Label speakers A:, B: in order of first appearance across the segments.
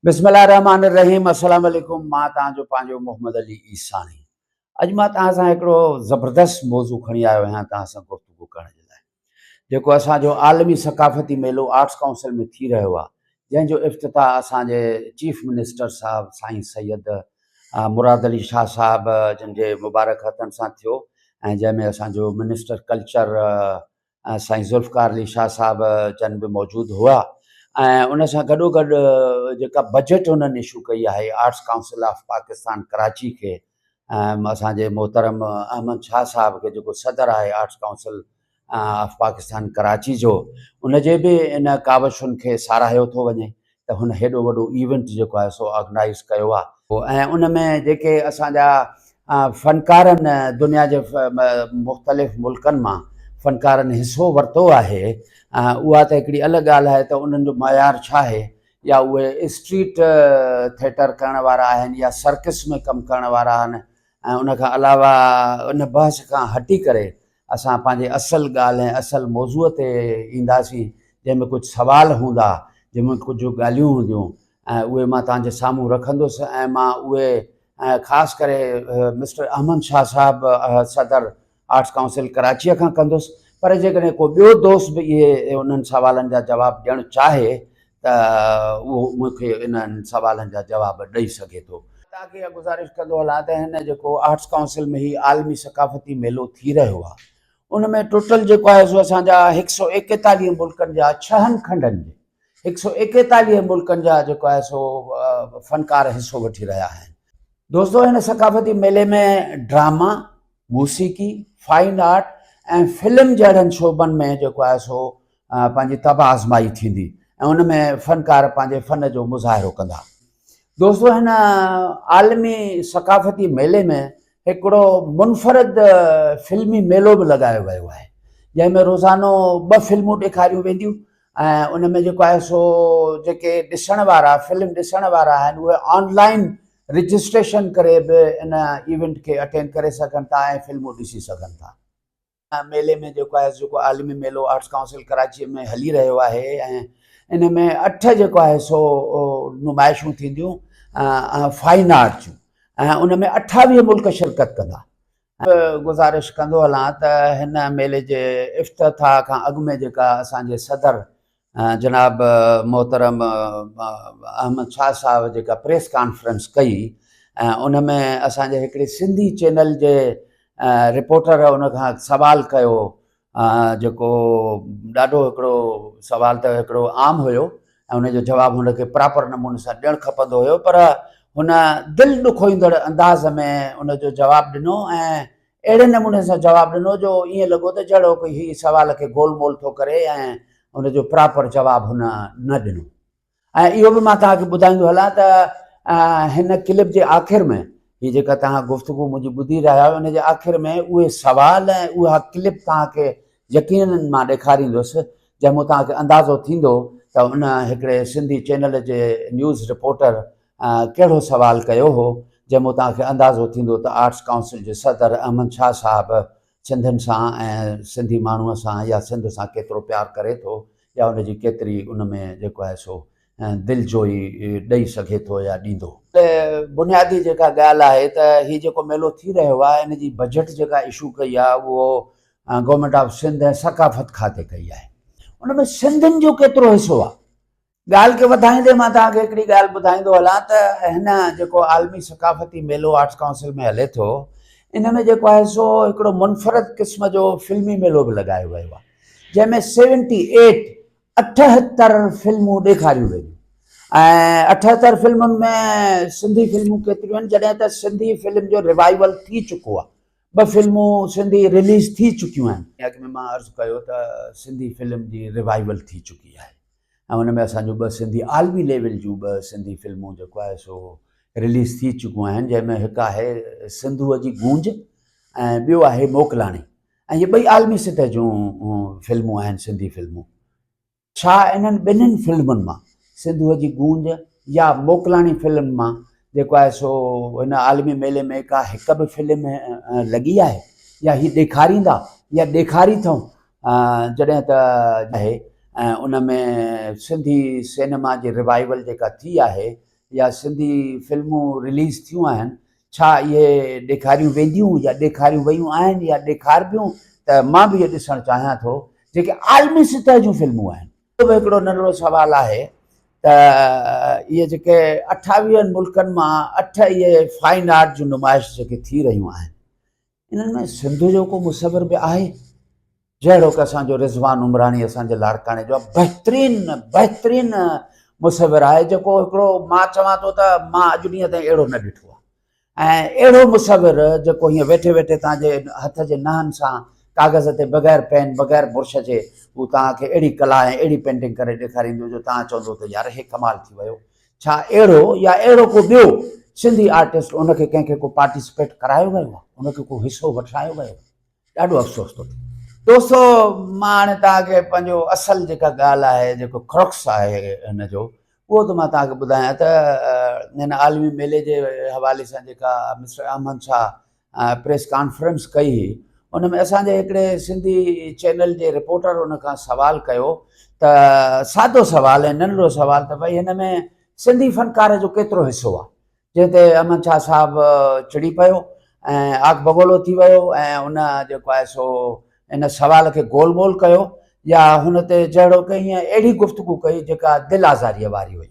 A: بسم الله الرحمٰن الرحيم السلام عليڪم مان توهان جو پنهنجو محمد علي عيساڻي اڄ مان توهان سان هڪڙو زبردست موضوع کڻي آيو آهيان توهان سان گفتگو ڪرڻ جي لاء جيڪو اسان جو عالمي ثقافتي ميلو آرٽس ڪائونسل ۾ ٿي رهيو آهي جنهن جو افتتاح اسان جي چيف منسٽر صاحب سائين سيد مراد علي شاهه صاحب جن جي مبارڪ هٿن سان ٿيو ۽ جنهن ۾ اسان جو منسٽر ڪلچر سائين ذوالفقار علي شاهه صاحب جن به موجود هئا ۽ ان سان گڏو گڏ جيڪا بجيٽ انهن اشو ڪئي آهي arts council of Pakistan Karachi کي ۽ اسانجي محترم احمد شاهه صاحب کي جيڪو صدر آهي arts council of Pakistan Karachi جو ان جي به ان ڪاوشن کي ساراهيو ٿو وڃي ته هن هيڏو وڏو ايونٽ جيڪو آهي سو آرگنائيز ڪيو آهي ۽ ان ۾ جيڪي اسان جا فنڪارن دنيا جي مختلف ملڪن مان فنڪارن حصو ورتو آهي اها ته هڪڙي الڳ ڳالهه آهي ته انهن جو معيار ڇا آهي يا اهي اسٽريٽ ٿيٽر ڪرڻ وارا آهن يا سرڪس ۾ ڪم ڪرڻ وارا آهن ۽ ان کان علاوه ان بحث کان هٽي ڪري اسان پنهنجي اصل ڳالهه ۽ اصل موضوع تي اينداسين جنهن ۾ ڪجهه سوال هوندا، جنهن ۾ ڪجهه ڳالهيون هونديون ۽ اهي مان توهان جي سامهون رکندس ۽ مان اهي ۽ خاص ڪري مسٽر احمد شاهه صاحب صدر آرٽس ڪائونسل ڪراچيء کان ڪندس پر جيڪڏهن ڪو ٻيو دوست به اهي انهن سوالن جا جواب ڏيڻ چاهي ته اهو مون کي انهن سوالن جا جواب ڏئي سگهي ٿو. تاڪي اها گذارش ڪندو هلان ته هن جيڪو آرٽس ڪائونسل ۾ هي عالمي ثقافتي ميلو ٿي رهيو آهي ان ۾ ٽوٽل جيڪو آهي سو اسان جا هڪ سؤ ايڪيتاليهه ملڪن جا ڇهن کنڊن جي هڪ سؤ ايڪيتاليهه ملڪن جا جيڪو آهي سو فنڪار حصو وٺي رهيا آهن. دوستو هن ثقافتي ميلي ۾ ڊراما، موسيقي، فائن آرٽ ۽ فلم جهڙن شعبن ۾ جيڪو آهي سو پنهنجي طبع آزمائي ٿيندي ۽ ان ۾ فنڪار پنهنجي فن جو مظاهرو ڪندا. دوستو هن عالمي ثقافتي ميلي ۾ هڪڙو منفرد فلمي ميلو به لڳايو ويو آهي جنهن ۾ روزانو ٻه فلمون ڏيکاريون وينديون ۽ ان ۾ جيڪو آهي سو جيڪي ڏسڻ وارا فلم ڏسڻ وارا آهن اهي آن لائن رجسٽريشن ڪري به ان ايونٽ کي اٽينڊ ڪري سگهن ٿا ۽ فلمون ڏسي سگهن ٿا. ميلي ۾ جيڪو آهي جيڪو عالمي ميلو آرٽس ڪائونسل ڪراچيء ۾ هلي رهيو آهي ۽ ان ۾ اٺ جيڪو آهي سو نمائشون ٿينديون فائن آرٽ جون ۽ ان ۾ اٺاويهه ملڪ شرڪت ڪندا گذارش ڪندو هلان ته هن ميلي جي افتتاح کان اڳ ۾ جيڪا اسان جي صدر جناب محترم احمد شاهه صاحب جيڪا پريس ڪانفرنس ڪئي ۽ ان ۾ اسان جي هڪڙي سنڌي چينل جي رپورٽر ان کان سوال ڪيو جيڪو ڏاڍو هڪڙو سوال ته هڪڙو عام هيو ۽ ان جو جواب هن کي پراپر نموني سان ڏيڻ کپندو هيو پر هن دل ڏکوئيندڙ انداز ۾ ان جو جواب ڏنو ۽ اهڙي نموني سان جواب ڏنو جو ائين لڳو ته جهڙوڪ هي سوال کي گول مول ٿو ڪري ۽ ان جو پراپر جواب هن نه ڏنو. ۽ اهو به مان توهان کي ٻڌائيندو هلان ته هن ڪلپ جي آخر ۾ هي جيڪا توهان گفتگو منهنجي ٻڌي رهيا آهيو ان جي آخر ۾ اهي سوال ۽ اها ڪلپ توهان کي يقينن مان ڏيکاريندس جنهن مون توهان کي اندازو ٿيندو ته ان هڪڙي سنڌي چينل جي نيوز رپورٽر ڪهڙو سوال ڪيو هو جنهن مون توهان کي اندازو ٿيندو ته آرٽس ڪائونسل جي صدر احمد شاهه صاحب سنڌين سان ۽ سنڌي ماڻهوء سان يا سنڌ سان ڪيترو پيار ڪري ٿو يا ان جي ڪيتري ان ۾ جيڪو آهي سو دلجوئي ڏئي سگهي ٿو يا ڏيندو. بنيادي جيڪا ڳالهه آهي ته هي جيڪو ميلو ٿي رهيو آهي ان جي بجيٽ جيڪا اشو ڪئي آهي اهو گورنمينٽ آف سنڌ ۽ ثقافت کاتي ڪئي آهي ان ۾ سنڌين جو ڪيترو حصو آهي ڳالهه کي وڌائيندي مان توهان کي هڪڙي ڳالهه ٻڌائيندو هلان ته هن جيڪو عالمي ثقافتي ميلو آرٽس ڪائونسل ۾ هلي ٿو ان ۾ جيڪو آهي سو هڪڙو منفرد قسم جو فلمي ميلو به لڳايو ويو آهي جنهن ۾ سيونٽي ايٽ اٺهتر فلمون ڏيکاريون وينديون ۽ اٺهتر فلمن ۾ سنڌي فلمون ڪيتريون آهن جڏهن ته سنڌي فلم جو روائيول ٿي چڪو آهي ٻه فلمون سنڌي رليز ٿي چڪيون آهن اڳ ۾ مان عرض ڪيو ته سنڌي فلم جي روائيول ٿي چڪي آهي ۽ ان ۾ اسان جون ٻه سنڌي عالمي ليول جون ٻه سنڌي فلمون جيڪو آهي سو رليز ٿي چڪون آهن جنهن ۾ هڪ آهي سنڌوء جي گونج ۽ ٻيو آهي موڪلاڻي ۽ هي ٻئي عالمي سطح جون فلمون آهن سنڌي فلمون ڇا انهن ٻنهن فلمن مان سنڌوء جي گونج يا موڪلاڻي فلم مان جيڪو آهي سو هن عالمي ميلي ۾ ڪا هڪ به فلم لڳي آهي يا هي ڏيکاريندا يا ڏيکاري اٿئون جڏهن ته آهي ۽ ان ۾ سنڌي سينما جي ريوائيول جيڪا ٿي آهي يا سنڌي فلمون رليز ٿيون آهن ڇا اهي ڏيکاريون وينديون يا ڏيکاريون ويون آهن يا ڏيکاربيون ته مان به اهو ڏسڻ چاهيان ٿو جيڪي عالمي سطح جون فلمون آهن. ٻيو به هڪڙو ننڍڙو سوال آهي ته اهي جيڪي اٺاويهن ملڪن مان اٺ اهي فائن آرٽ جون نمائش جيڪي ٿي رهيون آهن انهن ۾ سنڌ جو ڪو مصور به آهي؟ جهڙوڪ اسان جو رضوان عمراڻي اسان جي لاڙڪاڻي جو بهترين بهترين مصور آهي جيڪو هڪڙو مان چوان ٿو ته مان اڄ ڏينهن تائين اهڙو نه ڏٺو آهي ۽ اهڙو مصور جيڪو هيئن ويٺي ويٺي توهان جي هٿ جي نهن سان ڪاغذ تي بغير پين بغير برش جي هو توهان کي اهڙي ڪلا ۽ اهڙي پينٽنگ ڪري ڏيکاريندو جو توهان چوندو ته يار هي ڪمال ٿي ويو ڇا اهڙو يا اهڙو ڪو ٻيو سنڌي آرٽسٽ ان کي ڪنهن کي ڪو پارٽيسپيٽ ڪرايو ويو آهي ان کي ڪو حصو وٺرايو ويو آهي ڏاڍو افسوس ٿو ٿئي. دوستو مان هاڻي توهان کي پنهنجو اصل جيڪا ڳالهه آهي جيڪو خرخس آهي هن جو اهو ته مان توهان کي ٻڌايان ته هن عالمي ميلي جي حوالي سان جيڪا mister Ahmed Shah press conference ڪئي هئي ان ۾ اسان جي هڪڙي سنڌي چينل جي رپورٽر ان کان سوال ڪيو ته سادو سوال ۽ ننڍڙو سوال ته بھي هن ۾ سنڌي فنڪار جو ڪيترو حصو آ جنهن تي احمد شاهه صاحب چڙي پيو ۽ آگ بگولو ٿي ويو ۽ ان جيڪو آهي سو ان سوال کي گول مول ڪيو يا هن تي جهڙو ڪئي اهڙي گفتگو ڪئي جيڪا دل آزاريء واري هئي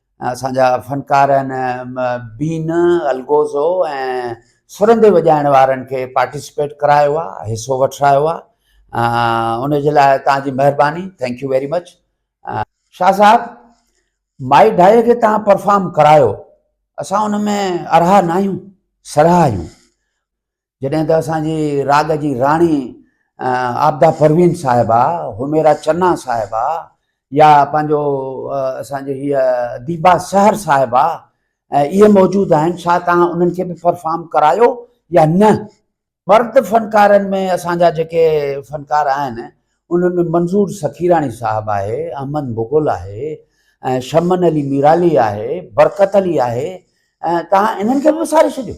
A: اسان جا فنڪار ان بين الگوزو ۽ سرندي وڄائڻ وارن کي پارٽيسپيٽ ڪرايو آهي حصو وٺرايو آهي ان جي لاء توهان جي مهرباني thank you very much Shah صاحب مائي ڊائي کي توهان پرفارم ڪرايو اسان ان ۾ ارها ناهيون سرها آهيون جڏهن ته اسان جي راڳ جي راڻي عابده پروين صاحبه، حميرا چنا صاحبه يا پنهنجو اسان جي هيء ديبا سحر صاحبه اهي موجود آهن، ڇا توهان انهن کي به پرفارم ڪرايو يا نه؟ مرد فنڪارن ۾ اسان جا جيڪي فنڪار آهن، انهن ۾ منظور سخيراڻي صاحب آهي، احمد مغل آهي، شمن علي ميرالي آهي، برڪت علي آهي، توهان انهن کي به وساري ڇڏيو.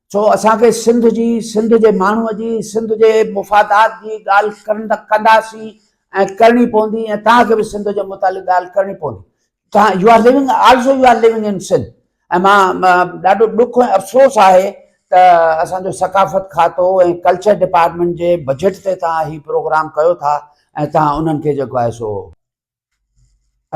A: ڇو اسان کي سنڌ جي، سنڌ جي ماڻهوء جي، سنڌ جي مفادات جي ڳالهه ڪرندا ڪنداسين ۽ ڪرڻي پوندي ۽ توهان کي به سنڌ جي متعلق ڳالهه ڪرڻي پوندي. توهان you are living also you are living in Sindh ۽ مان ڏاڍو ڏک ۽ افسوس آهي ته اسان جو ثقافت کاتو ۽ ڪلچر ڊپارٽمينٽ جي بجيٽ تي توهان هي پروگرام ڪيو ٿا ۽ توهان انهن کي جيڪو آهي سو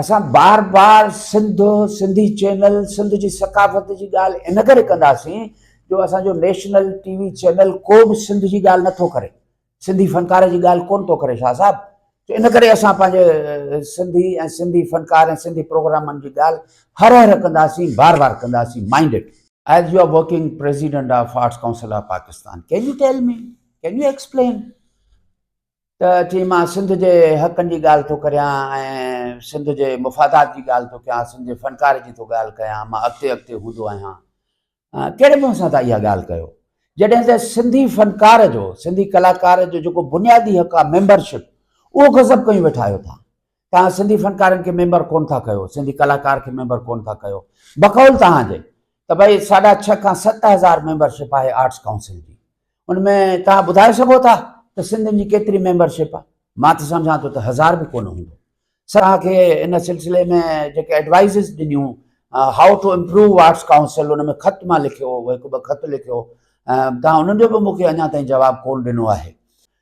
A: اسان بار بار سنڌ، سنڌي چينل، سنڌ جي ثقافت جي ڳالهه ان ڪري ڪنداسين جو اسان جو نيشنل ٽي وي چينل ڪو به سنڌ جي ڳالهه نه ٿو ڪري، سنڌي فنڪار جي ڳالهه ڪونه ٿو ڪري شاهه صاحب ته ان ڪري اسان پنهنجي سنڌي ۽ سنڌي فنڪار ۽ سنڌي پروگرامن جي ڳالهه هر هر ڪنداسين بار بار ڪنداسين mind it. As you are working President of Arts Council of Pakistan, can you tell me, can you explain ته چيائين مان سنڌ جي حقن جي ڳالهه ٿو ڪريان ۽ سنڌ جي مفادات جي ڳالهه ٿو ڪيان، سنڌ جي فنڪاري جي ٿو ڳالهه ڪيان، مان اڳتي اڳتي هوندو آهيان. ڪهڙي منهن سان تان اها ڳالهه ڪيو؟ جڏهن ته سنڌي فنڪار جو، سنڌي ڪلاڪار جو جيڪو بنيادي حق آهي ميمبرشپ، اهو غصب ڪيون ويٺا آهيو تان. توهان سنڌي فنڪارن کي ميمبر ڪونه ٿا ڪيو، سنڌي ڪلاڪار کي ميمبر ڪونه ٿا ڪيو، بقول توهان جي ته ڀئي ساڍا ڇهه کان ست هزار ميمبرشپ آهي آرٽس ڪائونسل جي، ان ۾ توهان ٻڌائي سگهو ٿا ته سنڌين جي ڪيتري ميمبرشپ آهي؟ مان ته سمجهان ٿو ته هزار به ڪونه هوندو. سر توهان کي ان سلسلي ۾ جيڪي ايڊوائيزز ڏنيون how to improve arts council ان ۾ خط مان لکيو هو، هڪ ٻه خط لکيو هو، توهان انهن جو به مون کي اڃا تائين جواب ڪونه ڏنو آهي.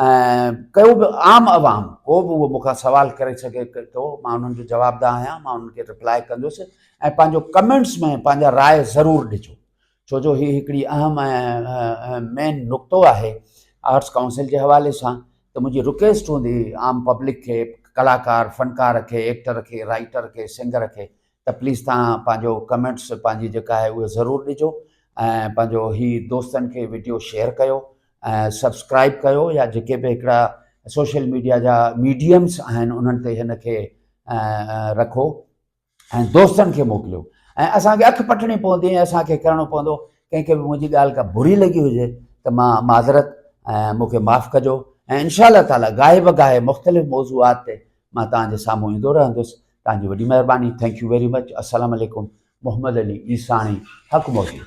A: ۽ ڪو به عام عوام ڪو به اهو مون کان سوال ڪري سگهي ٿو مان انهن جو جواب دان آهيان مان انهن کي ريپلاء ڪندس ۽ پنهنجو ڪمينٽس ۾ پنهنجا راء ضرور ڏجو ڇو جو هي هڪڙي اهم ۽ مين نقطو آهي آرٽس ڪائونسل جي حوالي سان ته منهنجي رڪويسٽ هوندي عام پبلڪ کي ڪلاڪار فنڪار کي ايڪٽر کي رائٽر کي سنگر کي ته پليز تهان پنهنجو ڪمينٽس پنهنجي جيڪا آهي اهي ضرور ڏجو ۽ پنهنجو هي دوستن کي ويڊيو شيئر ڪيو ۽ سبسڪرائب ڪيو يا جيڪي به هڪڙا سوشل ميڊيا جا ميڊيمس آهن انهن تي هن کي رکو ۽ دوستن کي موڪليو ۽ اسان کي اک پٽڻي پوندي ۽ اسان کي ڪرڻو پوندو ڪنهن کي به منهنجي ڳالهه کا بري لڳي هجي ته مان معذرت ۽ مونکي معاف ڪجو ۽ انشاء الله تعالٰي گاهي بگاهي مختلف موضوعات تي مان تهان جي سامهون ايندو رهندس تنهنجي وڏي مهرباني ٿينڪ يو ويري مچ السلام عليڪم محمد علي عيساڻي حق موجود